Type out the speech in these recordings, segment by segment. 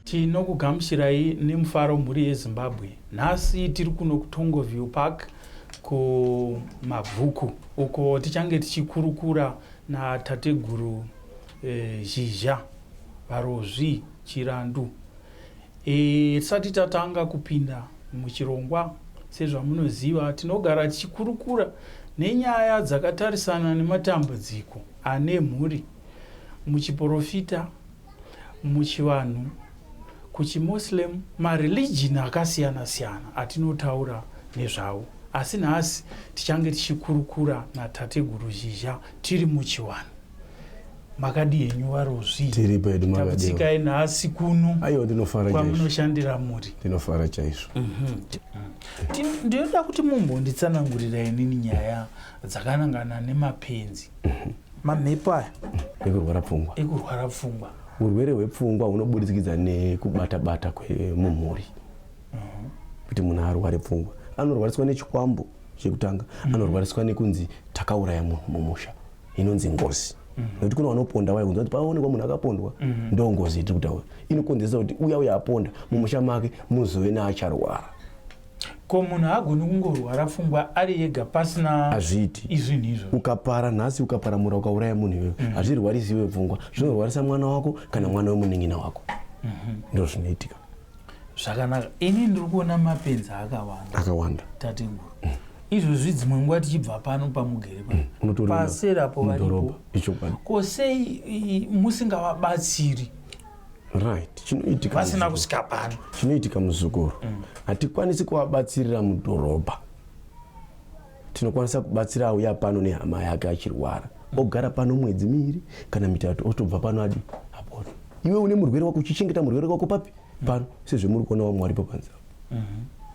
Tinokugamuchirai nemufaro mhuri yeZimbabwe. Nhasi tiri kuno kuTongoview Park kuMabvuku uko tichange tichikurukura natateguru eh, Zhizha Varozvi Chirandu. Eh, tisati tatanga kupinda muchirongwa sezvamunoziva tinogara tichikurukura nenyaya dzakatarisana nematambudziko ane mhuri muchiporofita, muchivanhu, kuchimoslem, mareligion akasiyana siyana atinotaura nezvawo. Asi nhasi tichange tichikurukura naTateguru Zhizha tiri muchiwanhu. Makadi henyu varozvi. Tiri pedu makadi. Takutsikai nhasi kuno. Ayo ndinofara chaizvo. Kwamunoshandira muri. Ndinofara chaizvo. Mhm. Ndinoda kuti mumbonditsanangurira inini nyaya dzakanangana nemapenzi mhm. mamhepo aya ekurwara pfungwa ekurwara pfungwa urwere hwepfungwa hunoburikidza nekubata bata kwemumhuri mhm. kuti munhu arware pfungwa anorwariswa nechikwambo chekutanga mhm. anorwariswa nekunzi takauraya munhu mumusha inonzi ngozi nekuti kune vanoponda vaya kunzi kuti paonekwa munhu akapondwa ndo ngozi tiri kutaura inokonzeresa kuti uya uya aponda mumusha make muzove neacharwara ko munhu haagoni kungorwara pfungwa ari yega pasina hazviiti izvinhu izvo ukapara nhasi ukaparamura ukauraya munhu iwewe mm. hazvirwarisi iwe pfungwa zvinorwarisa mwana wako kana mwana wemunin'ina wako mm -hmm. ndo zvinoitika zvakanaka ini ndiri kuona mapenzi akawanda akawanda tateguru mm. izvozvi dzimwe nguva tichibva pano pamugere pano mm. paserapo varipo ko sei musingavabatsiri right chinoitika vasina kusvika pano chinoitika muzukuru mm. hatikwanisi kuvabatsirira mudhorobha tinokwanisa kubatsira auya pano nehama yake achirwara ogara pano mwedzi miiri kana mitatu otobva pano adi apona iwe une murwere wako uchichengeta murwere wako papi pano sezvemuri kuona wamwari papanza mhm.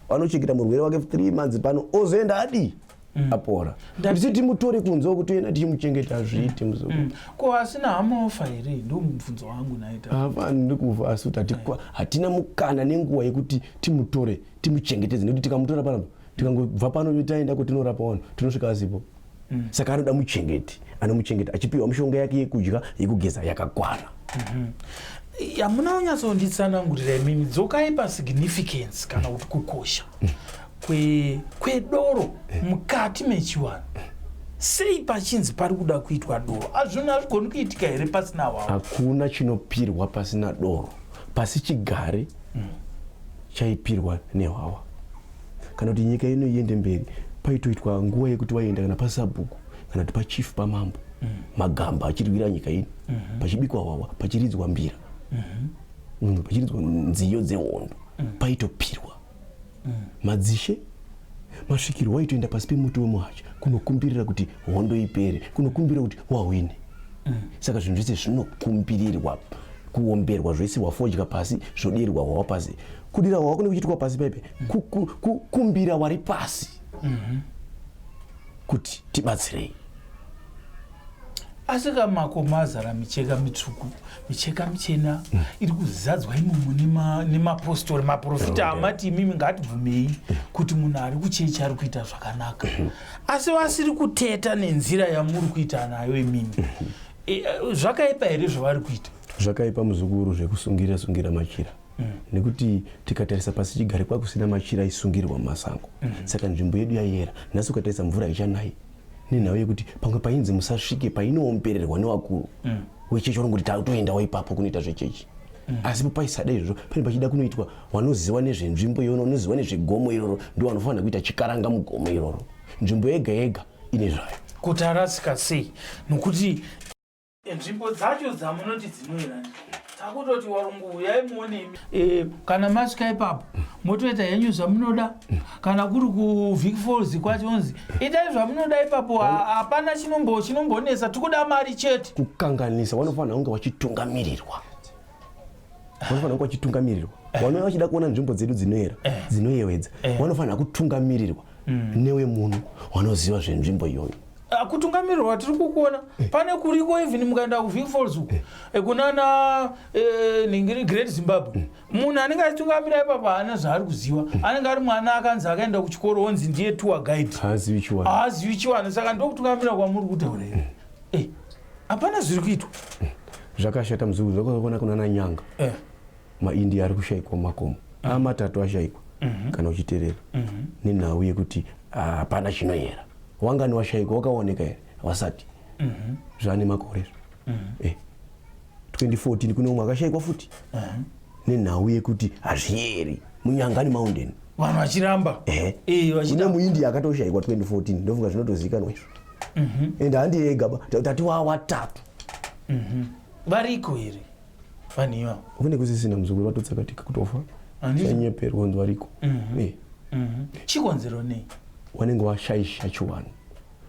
anochengeta murwere wake three months pano ozoenda adii mm. apora ndisi timutore kunze uku toenda tichimuchengeta azviite muzukuru mm. ko asina hama ofa here ndo mubvunzo wangu naita hapana ndiri kuva asi kuti hatina mukana nenguva yekuti timutore timuchengetedze nekuti tikamutora panapa tikangobva pano taenda kutinorapa vanhu tinosvika asipo mm. saka anoda muchengeti anomuchengeta achipiwa mishonga yake yekudya yekugeza yakakwana mm-hmm. hamuna unyatsonditsanangurira imimi dzokai pasignificance kana kuti kukosha mm. kwe, kwedoro mukati mechivanhu sei pachinzi pari kuda kuitwa doro azvinhu hazvigoni kuitika here pasina wavo hakuna chinopirwa pasina doro pasi chigare chaipirwa nehwawa kana kuti nyika ino iende mberi paitoitwa nguva yekuti vaienda kana pasabhuku kana kuti pachief pamambo mm. magamba achirwira nyika ino mm -hmm. pachibikwa hwawa pachiridzwa mbira mm -hmm. mm, pachiridzwa nziyo dzehondo mm. paitopirwa madzishe masvikiro waitoenda pasi pemuti wemuhacha kunokumbirira kuti hondo ipere kunokumbirira kuti wahwine saka zvinhu zvese zvinokumbirirwa kuomberwa zvese wafodya pasi zvodirwa hwawa pasi kudira hwawa kune kuchiitwa pasi paipe kukumbira wari pasi kuti tibatsirei asi ka makomo azara micheka mitsvuku micheka michena mm. iri kuzadzwa imomo nemapostori maprofita amati imimi ngatibvumei mm. kuti munhu ari kuchechi ari kuita zvakanaka mm-hmm. asi vasiri kuteta nenzira yamuri kuita nayo imimi mm-hmm. e, e, zvakaipa here zvavari kuita zvakaipa muzukuru zvekusungira sungira machira mm. nekuti tikatarisa pasi chigare kwakusina machira aisungirwa mumasango saka nzvimbo yedu yayera nhasi ukatarisa mvura haichanayi nenhau yekuti pamwe painzi musasvike painoombererwa nevakuru mm. wechechi vanongoti toendawo ipapo kunoita zvechechi mm. asi papaisada izvozvo pane pachida kunoitwa vanoziva nezvenzvimbo iyono vanoziva nezvegomo iroro ndo vanofanira kuita chikaranga mugomo iroro nzvimbo yega yega ine zvayo kuti arasika sei nokuti nzvimbo dzacho dzamunoti dzinoera takutoti warungu uyai muonemi eh, kana masvika ipapo motoita henyu zvamunoda kana kuri kuvik falls kwachonzi itai zvamunoda ipapo hapana chinombonetsa tikuda mari chete kukanganisa wanofanira kunge wachitungamirirwa vanofanira vachitungamirirwa eh. vanova vachida kuona nzvimbo dzedu dzinoera eh. dzinoyewedza eh. vanofanira kutungamirirwa mm. newe munhu wanoziva zvenzvimbo iyoyo ah, kutungamirirwa tiri kukuona pane kuriko even mukaenda kuview falls uku kunana ningiri great zimbabwe mm. munhu anenge achitungamira ipapa haana zvaari kuziva mm. anenge ari mwana akanzi akaenda kuchikoro onzi ndiye tour guide haazivi chiwani saka ndokutungamira kwamuri kutaura iri hapana zviri kuitwa zvakashata muzukuru zvakaona kuna nanyanga eh. maindia ari kushaikwa mumakomo mm. amatatu ashaikwa mm -hmm. kana uchiterera mm -hmm. nenhau yekuti ah, hapana uh, chinoyera wangani washaikwa wakaoneka here wasati mm -hmm. zvaane makore izvo mm -hmm. eh. 2014 kune umwe akashaikwa futi mm -hmm. nenhau yekuti hazviyeri munyangani mountain vanhu vachiramba eh. eh, vachiramba. muindia akatoshaikwa 2014 ndofunga zvinotozikanwa izvo Mhm. and handi yega ba tati wa watatu Mhm. variko here vanhu ivavo kune kusisina muzukuru vatotsakatika kutofa Handiti? chanyeperwa kunzi variko Mhm. Eh, Mhm. chikonzero nei wanenge washaisha chiwanhu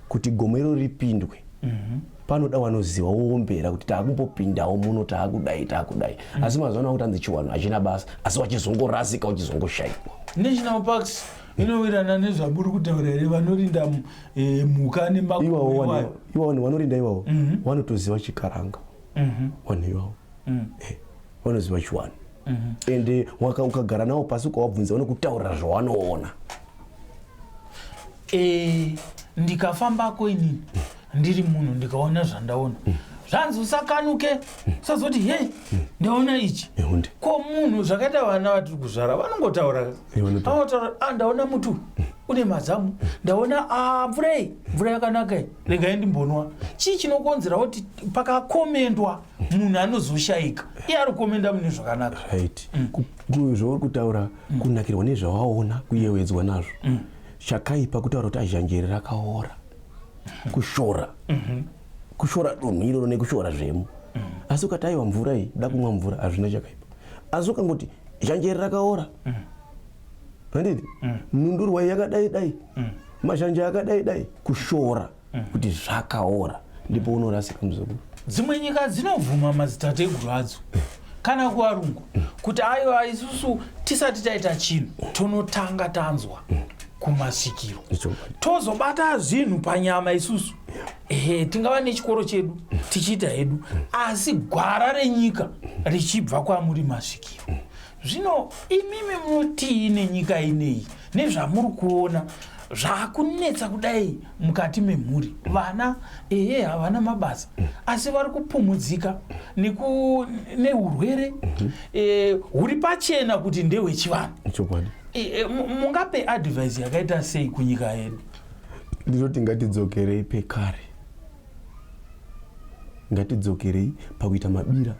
kuti gomo iro ripindwe Mhm. panoda wanoziva woombera kuti taakumbopindawo muno taakudai taakudai asi mazuva ano akutanzi chiwanhu hachina basa asi wachizongorasika uchizongoshaikwa national parks inowirirana nezvamuri kutaura here vanorinda eh, mhuka nemakuiwawo vanorinda iwawo mhm. vanotoziva chikaranga mhm. vanhu iwawo mhm. eh, vanoziva chiwani and eh, ukagara nawo pasi ukawabvunza vanokutaurira zvawanoona ndikafambako inini ndiri munhu ndikaona zvandaona mm. zvanzi usakanuke mm. usazoti he mm. ndaona ichi ko munhu zvakaita vana vatiri kuzvara vanongotaura anotaura a ah, ndaona mutu une mazamu ndaona ah, mvura iyi mvura yakanaka iyi regai ndimbonwa chii chinokonzera kuti pakakomendwa munhu anozoshayika iye ari kukomenda mune zvakanaka zvauri kutaura kunakirwa nezvawaona kuyewedzwa nazvo chakaipa kutaura kuti azhanjeri rakaora kushora mhm. kushora dunhu iroro nekushora zvemo mhm. asi ukati aiwa mvura iyi da kumwa mvura hazvina chakaipa asi ukangoti zhanjeri rakaora mhm. handiti nhundurwa iyi yakadai dai mazhanje akadai dai kushora kuti zvakaora ndipo unorasika muzukuru dzimwe nyika dzinobvuma madzitateguru adzo kana kuvarungu kuti aiwa isusu tisati taita chinhu tonotanga tanzwa kumasvikiro tozobata zvinhu panyama isusu ehe tingava nechikoro chedu tichiita hedu asi gwara renyika richibva kwamuri masvikiro zvino imimi munotii nenyika ineyi nezvamuri kuona zvakunetsa kudai mukati memhuri vana eye havana mabasa asi vari kupumhudzika neurwere mhm. eh, huri pachena kuti ndehwechivanhu eh, eh, mungape advise yakaita sei kunyika yedu ndinoti ngatidzokerei pekare Ngatidzokerei pakuita mabira.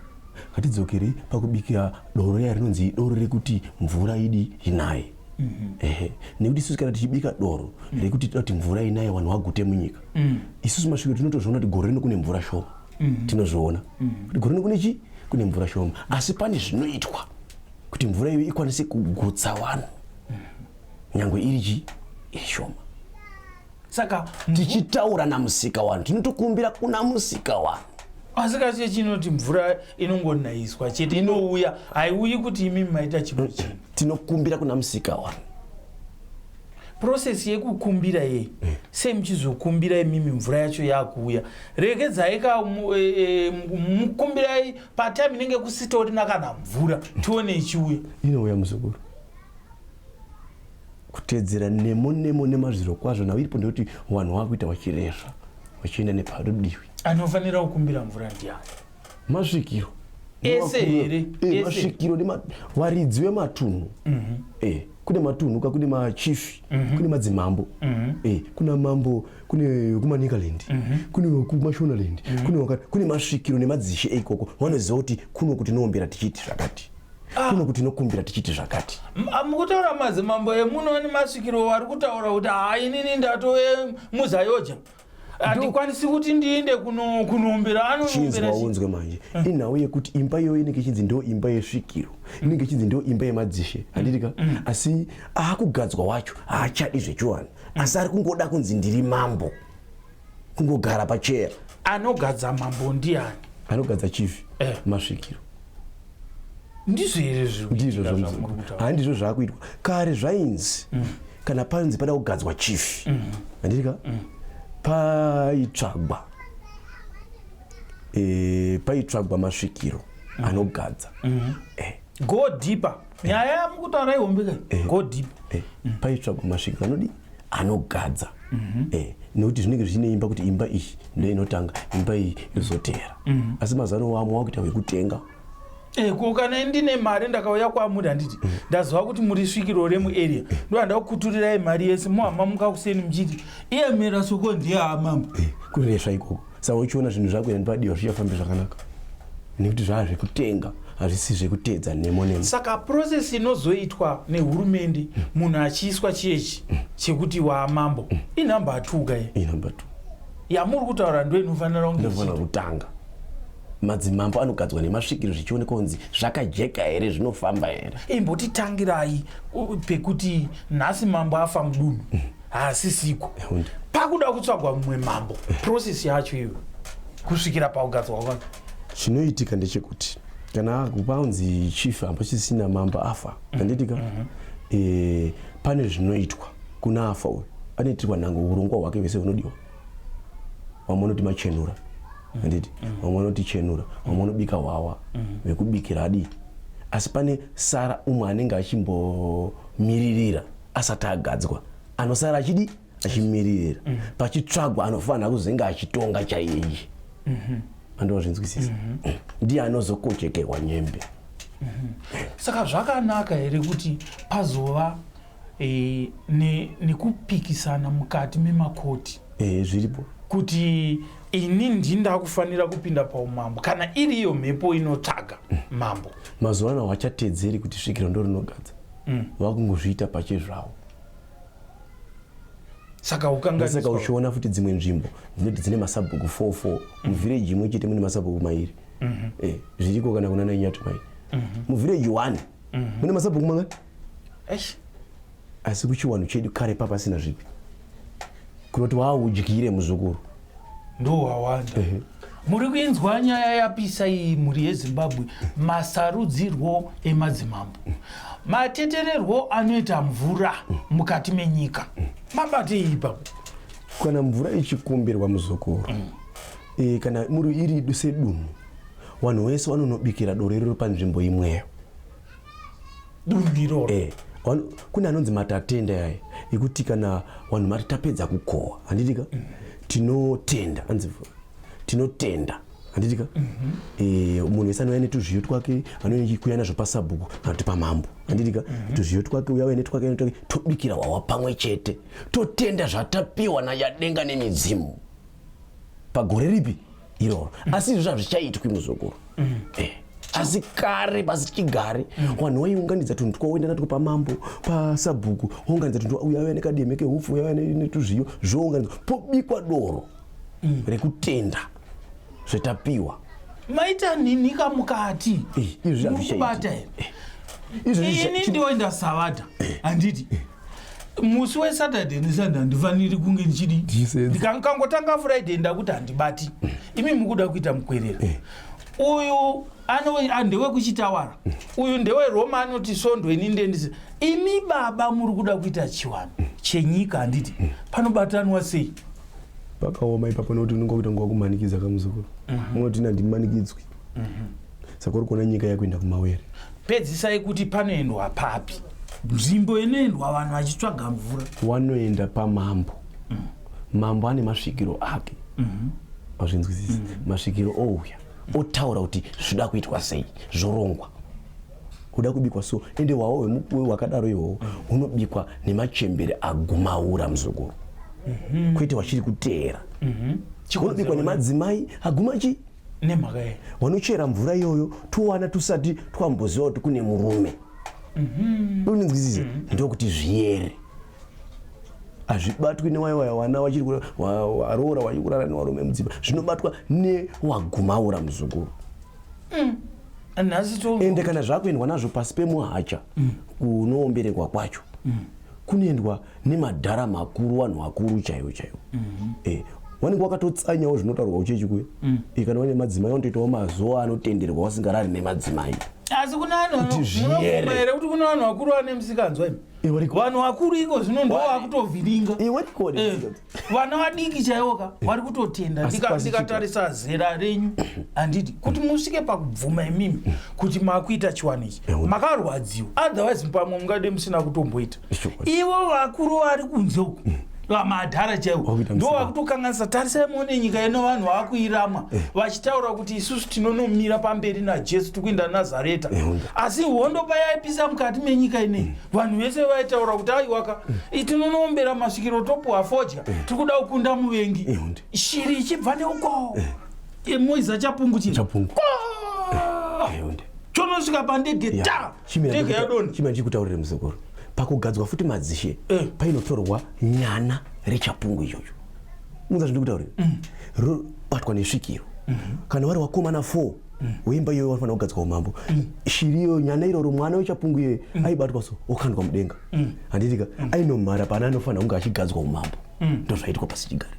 Ngatidzokerei pakubikira doro riya rinonzi doro rekuti mvura idi inaye. Mm-hmm. ehe nekuti isusu kana tichibika doro mm. rekuti toti mvura inaye vanhu vagute munyika mm. isusu masviko tinotozviona kuti gore rino kune mvura shoma mm-hmm. tinozviona mm-hmm. kuti gore rino kune chii kune mvura shoma asi pane zvinoitwa kuti mvura iyo ikwanise kugutsa vanhu nyangwe iri chii iri shoma saka tichitaura namusika wanu tinotokumbira kuna musika wanu asi kasi chinoti mvura inongonaiswa chete inouya haiuyi kuti imi maita chimwe chinhu tinokumbira kuna musika wanu process yekukumbira yei mm. sei muchizokumbira imimi mvura yacho yakuuya regedzai ka e, e, mukumbirai patime inenge kusitorina kana mvura tione ichiuya inouya muzukuru Kutedzera nemo nemo nemazviro kwazvo nhau iripo ndekuti wanhu wakuita wachirezva wachienda neparudiwi. Anofanira kukumbira mvura ndiani? Masvikiro. Ese here? Eh, masvikiro nema waridzi wematunhu. Mhm. Mm eh, kune matunhu ka kune machief, mm -hmm. kune madzimambo. Mm -hmm. Eh, kuna mambo kune kumanikaland mm -hmm. kune kumashonaland mm -hmm. kune wakati kune masvikiro nemadzishe eikoko wanoziva kuti kuno kuti noombera tichiti zvakati Ah. kuno kuti nokumbira tichiti zvakati ah, mukutaura madzimambo emunoni masvikiro wari kutaura kuti haa inini ndatove muzayoja handikwanisi kuti ndiinde kunombira anochinzwa unzwe manje hmm. inhau yekuti imba iyoyo inenge ichinzi ndo imba yesvikiro hmm. inenge ichinzi ndo imba yemadzishe handitika hmm. asi aakugadzwa wacho haachadi zvechiwani asi ari kungoda kunzi ndiri mambo kungogara pachera anogadza mambo ndiani anogadza chief eh. masvikiro ndizvo here ndizvo handizvo zvakuitwa kare zvainzi mm. kana panzi pada kugadzwa chief mm. handiti ka mm. paitsvagwa e, paitsvagwa masvikiro mm. anogadza mm. eh. go deeper nyaya yamukutaura ihombe ka eh. go deeper eh. mm. paitsvagwa masvika anodi anogadza mhm. eh, nekuti zvinenge zvichine imba kuti imba iyi ndo inotanga imba iyi yozoteera mhm. asi mazano wamwe wakuita wekutenga Eh, ko kana ndine mari ndakauya kwamuri handiti mm. ndaziva kuti muri svikiro remuarea mm. ndohanda kukuturirai mari yese mohamba muka kuseni muchiti iyamira soko ndiye amambo eh, kuresva ikoko saka uchiona zvinhu zvako yani padiwa zvichafambi zvakanaka nekuti zvava zvekutenga hazvisi zvekuteedza nemo nemo saka process inozoitwa nehurumende munhu achiiswa chiyechi chekuti waamambo inumber two ka inumber two yamuri kutaura ndo inofanira kungeinofanira kutanga madzimambo anogadzwa nemasvikiro zvichionekwa kunzi zvakajeka here zvinofamba here imbotitangirai pekuti nhasi mambo afa mudunhu haasisiko pakuda kutsvagwa mumwe mambo process yacho iyo kusvikira pakugadzwa kwake chinoitika ndechekuti kana paunzi chief apa chisina mambo afa handitika mm -hmm. e, eh, pane zvinoitwa kuna afa uyu anoitirwa nhango urongwa hwake vese hunodiwa vamwe vanoti machenura handiti mm -hmm. vamwe vanoti chenura vamwe vanobika hwawa mm -hmm. vekubikira adii asi pane sara umwe anenge achimbomiririra asati agadzwa anosara achidi achimiririra mm. pachitsvagwa anofanira kuzinga achitonga chaiye mhm. andozvinzwisisa mhm. mm. ndiye anozokochekerwa nyembe mhm. saka zvakanaka here kuti pazova e, nekupikisana ne mukati memakoti e, zviripo kuti ini ndi ndakufanira kupinda paumambo kana iriyo mhepo inotsvaga mambo mazuva ano hachatedzeri kuti svikiro ndorinogadza mm. vakungozviita pachezvavo saka ukangasaka uchiona futi dzimwe nzvimbo dzinoti dzine masabhuku 44 mm. muvhireji imwe chete mune masabhuku mairi mm -hmm. eh, zviriko kana kuna nainyati mai mm -hmm. muvhireji one mm -hmm. mune masabhuku mangani asi kuchiwanhu chedu kare papasina zvipi kunoti waudyire muzukuru ndohwawanda uh -huh muri kuinzwa nyaya yapisa iyi mhuri yezimbabwe masarudzirwo emadzimambo matetererwo anoita mvura mukati menyika mabate ipa kana mvura ichikumbirwa muzukuru mm. e, kana muri iri sedunhu vanhu vese vanonobikira doro iriro panzvimbo imweyo dunhu iroro eh, kune anonzi matatenda yaye ekuti kana vanhu mati tapedza kukohwa handitika mm -hmm. tinotenda anzi tinotenda handitika mm -hmm. e, eh, munhu wese anouya netuzviyo twake anouya kuya nazvo pasabhuku kana kuti pamambo handitika mm -hmm. tuzviyo twake uya uya netwake netwake tobikira hwawa pamwe chete totenda zvatapiwa nayadenga nemidzimu pagore ripi iroro mm. asi izvozvo hazvichaitwi muzukuru mm. eh asi kare pasi chigare mm. vanhu vaiunganidza tunhu twaoenda natwo pamambo pasabhuku ounganidza tunhu uya uya nekademe kehupfu uya uya netuzviyo zvounganidza pobikwa doro mm. rekutenda zvetapiwa maita ninhika mukati eh, izvi zvazvishaiibata eh, izvi ini ndioenda savata handiti eh. musi wesaturday nesunday handifaniri kunge ndichidi ndikangotanga friday ndakuti handibati imi mukuda kuita mukwerera eh. uyu ah, ndewekuchitawara mm. uyu ndeweroma anoti sondo ini ndendisi imi baba muri kuda kuita chiwano mm. chenyika handiti mm. panobatanwa sei pakaoma ipapo nokuti unenge wakuita nguva kumanikidza kamuzukuru mhm. unoti nandimanikidzwi mhm. saka uri kuona nyika yakuenda kumawere pedzisai kuti panoendwa papi nzvimbo inoendwa vanhu vachitsvaga mvura wanoenda pamambo mm. mambo ane masvikiro ake mm-hmm. azvinzwisisi mm. masvikiro ouya otaura kuti zvoda kuitwa sei zvorongwa uda kubikwa so ende wawo wemukuwe wakadaro iwowo mm. unobikwa nemachembere agumaura muzukuru mm-hmm. kwete wachiri kuteera mm-hmm. unobikwa nemadzimai aguma chii nemhaka yei vanochera mvura iyoyo towana tusati twamboziva kuti kune murume mhm. unonzwisisa mhm. ndokuti zviyere hazvibatwi newaiwaya wana vachiri varoora vachiri kurara nevarume mudzimba zvinobatwa newagumaura muzukuru mm. ende kana zvakuendwa nazvo pasi pemuhacha mm. kunoomberekwa kwacho mm. kunoendwa nemadhara makuru vanhu vakuru chaivo chaivo mm -hmm. eh, wanenge wakatotsanyawo zvinotaurwa uchechi kuye mm. eh, kana wane madzimai wanotoitawo mazuva anotenderwa wasingarari nemadzimai asi kuna vanhuere kuti kuna vanhu vakuru vane misikanzwa imi eh, vanhu vakuru iko zvino ndo vakutovhiringa eh, vana vadiki chaivo ka vari kutotenda ndikatarisa zera renyu handiti kuti musvike pakubvuma imimi kuti makuita chiwani ichi makarwadziwa otherwise pamwe mungade musina kutomboita ivo vakuru vari kunze uku mm. vamadhara chaivo ndo vakutokanganisa tarisai muone nyika yeno vanhu vakuiramwa eh. vachitaura kuti isusu tinonomira pamberi najesu tikuenda nazareta eh, asi hondo payaipisa mukati menyika inei mm. vanhu vese vaitaura kuti aiwaka eh, tinonoombera masvikiro topuwa fodya eh. tiri kuda kukunda muvengi eh, shiri ichibva neuko emoiza chapungu chii chonosvika pandege ta ndege yadoni chimira ndichikutaurire muzukuru pakugadzwa futi madzishe painotorwa nyana rechapungu ichocho muza zvindikutaurira mm. robatwa nesvikiro mm-hmm. kana vari wakomana four mm. weimba iyoyo vanofanira kugadzwa umambo mm. shiri iyoyo nyana iroro mwana wechapungu iyoyo mm. aibatwa so okandwa mudenga mm. handitika mm. mm. ainomhara pana anofanira kunge achigadzwa umambo mm. ndozvaitwa pasi chigare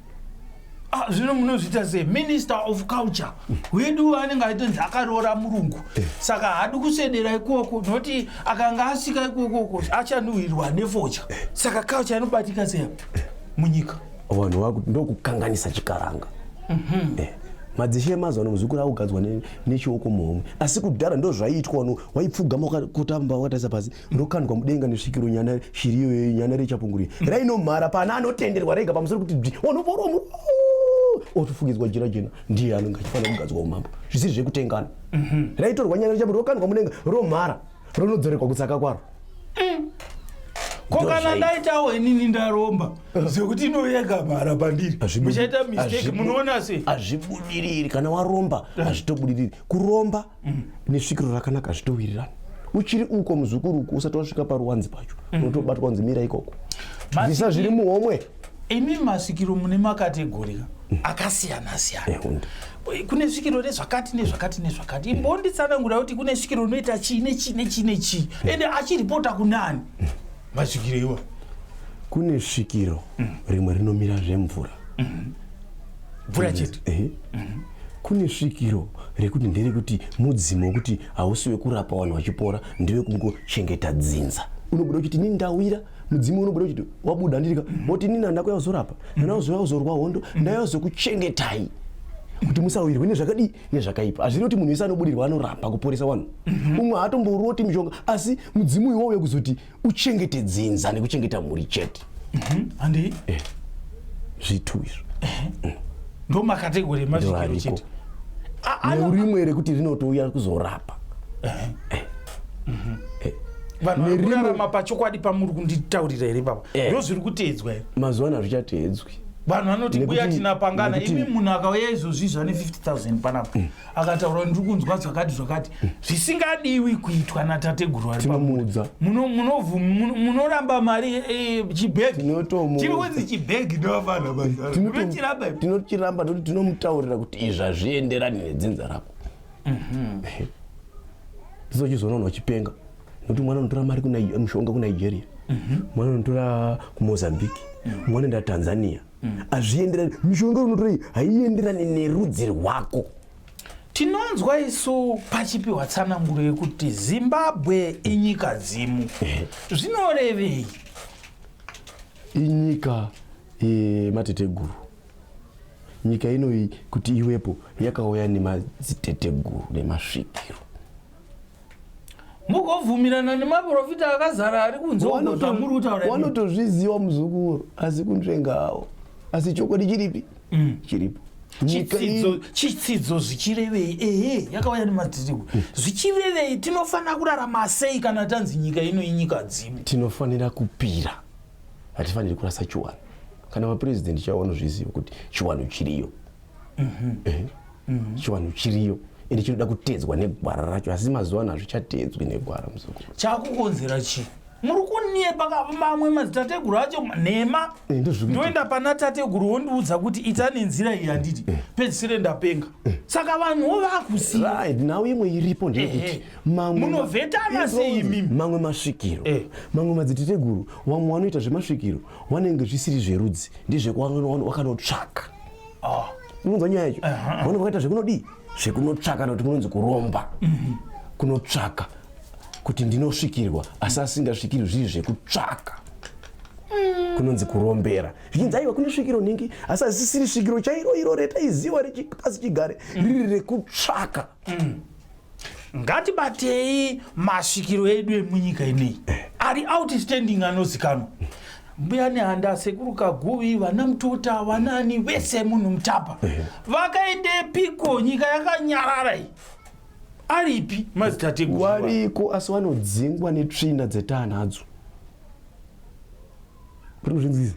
ah, zvino munozviita se minister of culture mm. wedu anenge aitonzi akaroora murungu eh. saka haadi kusvedera ikoko nokuti akanga asika ikokoko achanhuhirwa nefocha eh. saka culture inobatika seya eh. munyika vanhu vakuti ndokukanganisa chikaranga mhm. eh, madzishe emazuva ano muzukuru akugadzwa nechioko muhomwe asi kudhara ndo zvaiitwa wano waipfugama kutamba wakatarisa pasi ndokandwa mudenga nesvikiro nyana shiriyo nyana rechapunguri mhm. rainomhara pana anotenderwa rega pamusoro kuti bzi wanovoromuro otofukidzwa jira jena ndiye anenge achifanira kugadzwa umambo zvisiri zvekutengana mhm. raitorwa nyana richaburi rokandwa mudenga romhara ronodzorekwa kutsaka kwaro mm. ko kana ndaitawo inini ndaromba zvekuti eh. inoyega mhara pandiri muchaita mistake munoona se hazvibudiriri kana waromba eh. hazvitobudiriri kuromba mm. nesvikiro rakanaka hazvitowirirani uchiri uko muzukuru uko usati wasvika paruwanzi pacho mm. unotobatwa kunzi mira ikoko bvisa zviri muhomwe imi masvikiro mune makategori akasiyana siyana eh, kune svikiro rezvakati nezvakati nezvakati imbonditsanangura kuti kune svikiro unoita chii nechii nechii nechii eh. ende achiripota kunani eh. masvikiro iwa kune svikiro mm. rimwe rinomira zvemvura mm-hmm. mvura chete mm-hmm. kune svikiro rekuti nderekuti mudzimu wekuti hausi wekurapa vanhu vachipora ndewekungochengeta dzinza unobuda kuti nindawira mudzimu unobuda uchiti wabuda ndirika woti nini handako yauzorapa nanauzova uzorwa hondo ndayozokuchengetai kuti musawirwe nezvakadii nezvakaipa hazviri kuti munhu wese anobudirwa anorapa kuporesa vanhu mhm. umwe haatomboroti mishonga asi mudzimu iwowo wekuzoti uchengete dzinza nekuchengeta mhuri chete mhm. handi eh, zvitu izvo eh, mm. ndomakategori emazvikiro chete neurimwe rekuti rinotouya kuzorapa eh. mhm. eh, vanhu vari kurarama pachokwadi pamuri kunditaurira here baba eh. ndo zviri kuteedzwa here mazuva ano hazvichateedzwi vanhu vanoti mbuya tinapangana imi munhu akauya izvozvi zvane 50000 panapa mm. akataura ndiri kunzwa zvakati zvakati mm. zvisingadiwi kuitwa natateguru ari pamudza munoramba mari eh, eh, chibhegi chiri kunzi chibhegi ndovanochiramba ndokuti tinomutaurira kuti izvi hazvienderani nedzinza rako Mhm. Sisi uchizoona munhu achipenga nokuti mwana unotora mari kuna mushonga kunigeria Mhm. mwana unotora kumozambique mwana unoenda tanzania Mhm. hazvienderani mishonga unotora iyi haienderani nerudzi rwako tinonzwa isu pachipiwa tsananguro yekuti zimbabwe inyika dzimu zvinorevei inyika yemateteguru nyika ino iyi kuti iwepo yakauya nemadziteteguru nemasvikiro mugobvumirana nemaprofita akazara ari kunzozvamuri kutaura wanotozviziva muzukuru asi kunzvenga awo asi chokwadi chiripi mm. chiripo chitsidzo zvichirevei ehe yakauya nemadziriwo hmm. zvichirevei tinofanira kurarama sei kana tanzi nyika ino inyika dzimu tinofanira kupira hatifaniri kurasa chiwano kana mapurezidendi chavo vanozviziva kuti chiwano chiriyo mhm. eh, mhm. chiwano chiriyo ende chinoda kutedzwa negwara racho asi mazuva ano hazvichatedzwi negwara muzukuru chakukonzera chii muri kunyepa mamwe madzitateguru acho nhema eh, ndoenda pana tateguru wondiudza kuti ita nenzira iyi handiti eh. pedzisire ndapenga eh. saka vanhuwo vakusiya nhau imwe iripo ndeyekuti munovhetana sei imimi mamwe masvikiro eh. mamwe madziteteguru vamwe vanoita zvemasvikiro vanenge zvisiri zverudzi ndezvewakanotsvaka ah. unonzwa nyaya yacho vanenge vakaita zvekunodii zvekunotsvaka kana kuti kunonzi kuromba mhm. kunotsvaka kuti ndinosvikirwa asi asingasvikirwi zviri zvekutsvaka mm. kunonzi kurombera zvichinzi aiwa kune svikiro nhingi asi asisiri svikiro chairo iro retaiziva rechipasi chigare mm. riri rekutsvaka mm. ngatibatei masvikiro edu emunyika inei ari outstanding anozikanwa mbuya nehanda sekuru kaguvi vana mutota vanani vese munhu mutapa vakaendepiko nyika yakanyarara iyi aripi madzitateguru wariko asi vanodzingwa netsvina dzetaanadzo rinozvinzizi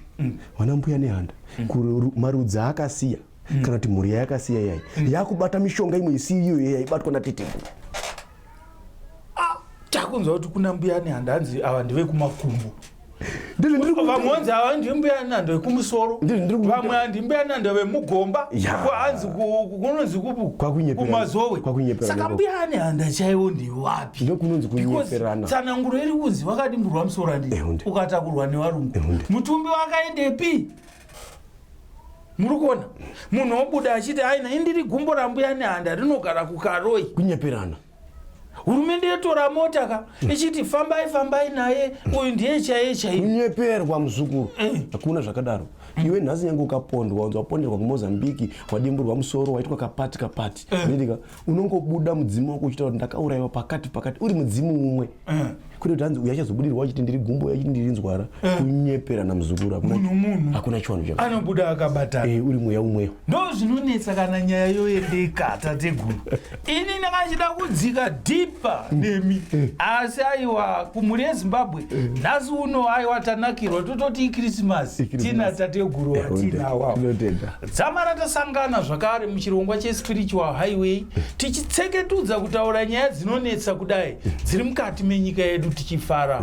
vana mbuya nehanda Kuru- marudzi aakasiya mm. kana kuti mhuri yayakasiya yai mm. yakubata mishonga imwe isi iyo yaibatwa nateteguru ah, takunzwa kuti kuna mbuya nehandi hanzi ava ndevekumakumbo vamwe wanzi ava ndimbuya nando vekumusoro vamwe andimbuya nando vemugomba anzi kunonzi kumazowe saka mbuya ane handa chaivo ndevapi tsananguro iri kunzi vakadimburwa musoro andii ukatakurwa nevarungu mutumbi wakaendepi muri kuona munhu obuda achiti aina indiri gumbo rambuya nehanda rinogara kukaroi kunyeperana hurumende yotora mota ka mm. ichiti fambai fambai naye uyu ndiye chaiye chaiye kunyeperwa muzukuru eh. hakuna zvakadaro mm. iwe nhasi nyange ukapondwa unzi waponderwa kumozambiki wadimburwa musoro waitwa kapati kapati eh. ndidika unongobuda mudzimu wako uchitaura kuti ndakaurayiwa pakati pakati uri mudzimu umwe eh. kune kuti hanzi uyu achazobudirwa achiti ndiri gumbo uyu achiti ndiri nzwara eh. kunyepera namuzukuru hakuna chivanhu chaanobuda akabatana eh, uri mweya umweyo ndo zvinonetsa kana nyaya yoendeka tateguru ini ndakachida kudzika dhipa mm. nemi asi aiwa kumhuri yezimbabwe nhasi uno aiwa tanakirwa tototi ikrisimasi tina tateguru watina awawo Dzamara tasangana zvakare muchirongwa cheSpiritual Highway tichitseketudza kutaura nyaya dzinonetsa kudai dziri mukati menyika yedu tichifara.